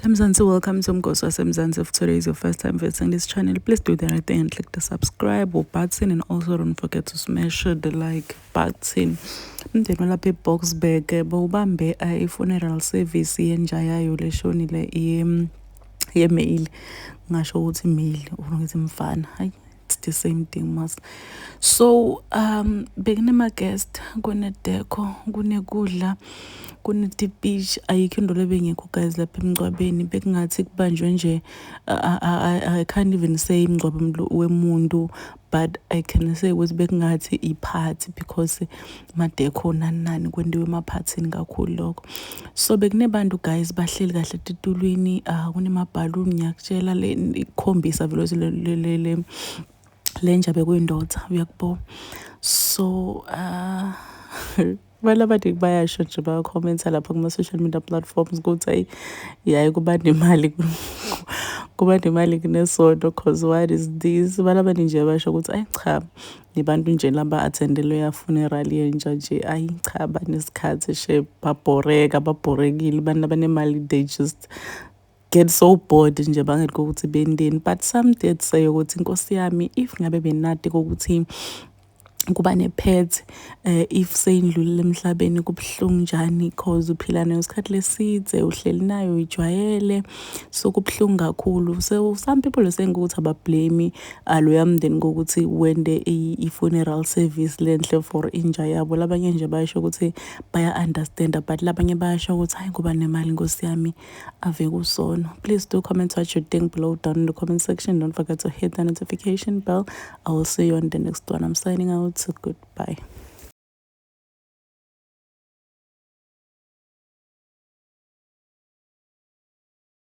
Mzansi, welcome to Mgosi waseMzansi. If today is your first time visiting this channel, please do the right thing and click the subscribe or button and also don't forget to smash the like button. Umndeni walapha eBoksburg eh, bawubambe eh, i-funeral service yenja yayo leshonile ye-male ngasho ukuthi male or ngithi mfana hayi it's the same thing mas so um bekunema-guest kunedeko kunekudla kunetipish ayikho into lebengekho guys lapha emngcwabeni bekungathi kubanjwe nje i can't even say imngcwabo wemuntu but i can say ukuthi bekungathi iphathi because madekho nani nani kwendiwe emaphathini kakhulu lokho so bekunebantu guys bahleli kahle titulwini uh, ah, kunemabhaluni ngiyakutshela le ikhombisa vele le, le, le, le lenja bekuyindoda uyakubo so uh, abantu abaningi bayasho nje bayakhomenta lapha kuma-social media platforms ukuthi ayi yaye kuba nemali kuba nemali kunesono cause what is this abantu abaningi nje basho ukuthi ayi cha Nibantu nje laba attendele ya funeral yenja nje ayi cha banesikhathi she babhoreka babhorekile abantu abanemali they just get so bored nje bangeke ukuthi bendeni but some did say ukuthi inkosi yami if ngabe benati kokuthi kuba nepet um eh, if seyindlulile emhlabeni kubuhlungu njani cause uphila nayo isikhathi lesidze uhleli nayo uyijwayele so kubuhlungu kakhulu so some people are saying ukuthi abablame aloya mndeni kokuthi wende i-funeral service lenhle for inja yabo labanye nje bayasho ukuthi baya-understanda but labanye bayasho ukuthi hhayi kuba nemali nkosi yami ave kusono please do comment what you think below down in the comment section don't forget to hit the notification bell i will see you on the next one i'm signing out so goodbye